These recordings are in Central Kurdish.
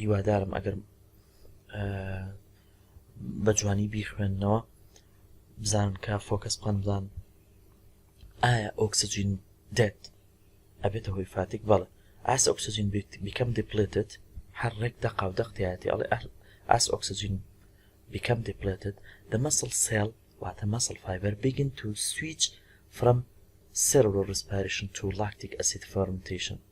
هیوادارم ئەگەر بە جوانی بیخوێندنەوە بزان کا فۆکەس پندان ئایا ئۆکسجین دێت ئەبێتە هۆی فاتێک بەڵێ ئاس ئۆکسجین بیکەم دیپلێتت هەر ڕێک دەقا و دەقتیاتی ئەڵێ ئاس ئۆکسجین بیکەم دیپلێتت دە مەسڵ سێڵ واتە مەسڵ فایبەر بگن تو سویچ فرەم سێرۆ ڕسپارشن تو لاکتیک ئەسید فەرمتیشن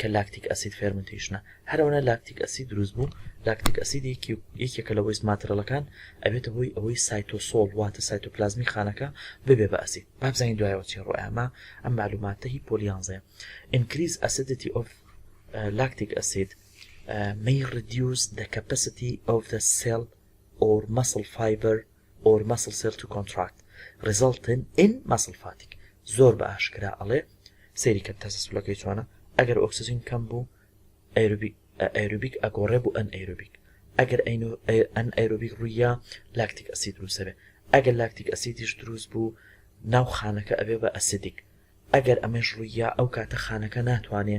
کە لاکتیک ئەسید فێرمنتەیشنە هەر ئەونە لاکتیک ئەسید دروست بوو لاکتیک ئەسید یەکێکە لە وەیست ماترەلەکان ئەبێتە هۆی ئەوەی سایتۆسۆڵ واتە سایتۆپلازمی خانەکە ببێ بە ئەسید با بزانین دوایەوە چی ڕۆ ئەما ئەم معلوماتە هی پۆلی یانزەیە increase acidity of lactic acid may reduce the capacity of the cell or muscle fiber or muscle cell to contract resulting in muscle fatigue زۆر بە ئاشکرا ئەڵێ سەیری کەن تەسە سولەکەی چۆنە ئەگەر ئۆکسجین کەم بوو ئەروبیک ئەگۆڕێ بوو ئەن ئەروبیک ئەگەر ئەن ئەروبیک ڕوویە لاکتیک ئەسی دروسەبێ ئەگەر لاکتیک ئەسیدیش دروست بوو ناو خانەکە ئەبێ بە ئەسیدیک ئەگەر ئەمەش ڕوویە ئەو کاتە خانەکە ناتوانێ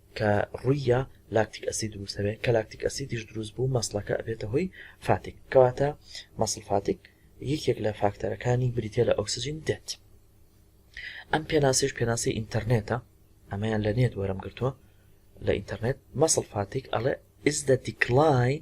کە ڕووی یا لاکتیک ئەسید دروست ئەبێت کە لاکتیک ئەسیدیش دروست بوو مەسڵەکە ئەبێتە هۆی فاتیک کەواتە مەسڵ فاتیک یەکێک لە فاکتەرەکانی بریتە لە ئۆکسجین دێت ئەم پێناسیش پێناسی ئینتەرنێتە ئەمەیان لە نێت وەرم گرتووە لە ئینتەرنێت مەسڵ فاتیک ئەڵێ is the decline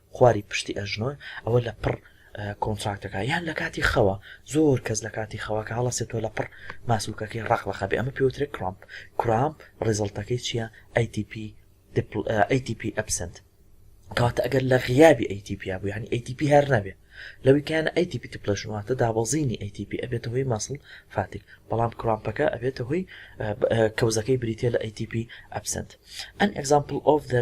خواری پشتی ئەژنۆن ئەوە لە پڕ کۆنتراکتەکە یان لە کاتی خەوە زۆر کەس لە کاتی خەوە کە هەڵەسێت تۆ لە پڕ ماسولکەکەی ڕەق ڕەقە بێ ئەمە پێوترێ کرامپ کرامپ ڕیزڵتەکەی چییە ATP دپل ATP ئەبسنت کاتە ئەگەر لە غیابی ATP بوو یعنی ATP هەر نەبێ لەوی کایانە ATP تپلەشن واتە دابەزینی ATP ئەبێتە هۆی ماسڵ فاتیک بەڵام کرامپەکە ئەبێتە هۆی کەوزەکەی بریتە لە ATP ئەبسنت ئەن ئەگزامپل ئۆف دە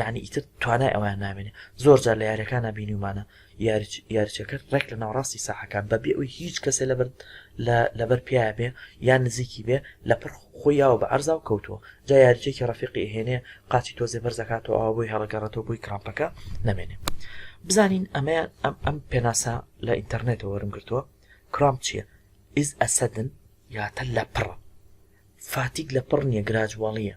یانی ئیتر توانای ئەوەیان نامێنێ زۆر جار لە یاریەکانا بینیومانە یاریچەکەر ڕێک لە ناوەڕاستی ساحەکان بە بێ ئەوی هیچ کەسێ لە بەرد لەبەر پیاە بێ یان نزیکی بێ لە پڕ خۆی یاوە بە ئەرزا و کەوتووە جا یاریچێکی ڕفیقی هێنێ قاچی تۆزێ بەرزەکاتەوە ئەوە بۆی هەڵگەڕێتەوە بۆی کراپەکە نەمێنێ بزانین ئەمەیان ئەم ئەم پێناسە لە ئینتەرنێتەوە وەرم گرتووە کرام چییە ئیز ئەسەدن یاتە لە پڕە فاتیک لە پڕ نیە گراجواڵیە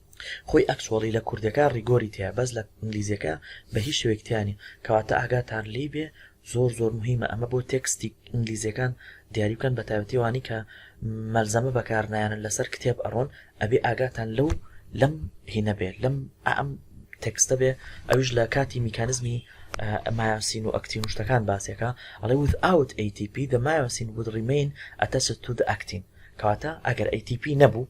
خۆی ئەکچوەڵی لە کوردیەکە ڕیگۆری تیایە بەس لە ئینگلیزیەکە بە هیچ شێوەیەک تیا نیە کەواتە ئاگاتان لێی بێ زۆر زۆر مهمە ئەمە بۆ تێکستی ئینگلیزیەکان دیاری بکەن بە تایبەتی وانی کە مەلزەمە بەکارنایانن لەسەر کتێب ئەڕۆن ئەبێ ئاگاتان لەو لەم هینە بێ لەم ئەم تێکستە بێ ئەوش لە کاتی میکانزمی مایاسین و ئەکتین و شتەکان باسێکە ئەڵێ without ATP the myosin would remain attached to the actin کەواتە ئەگەر ATP نەبوو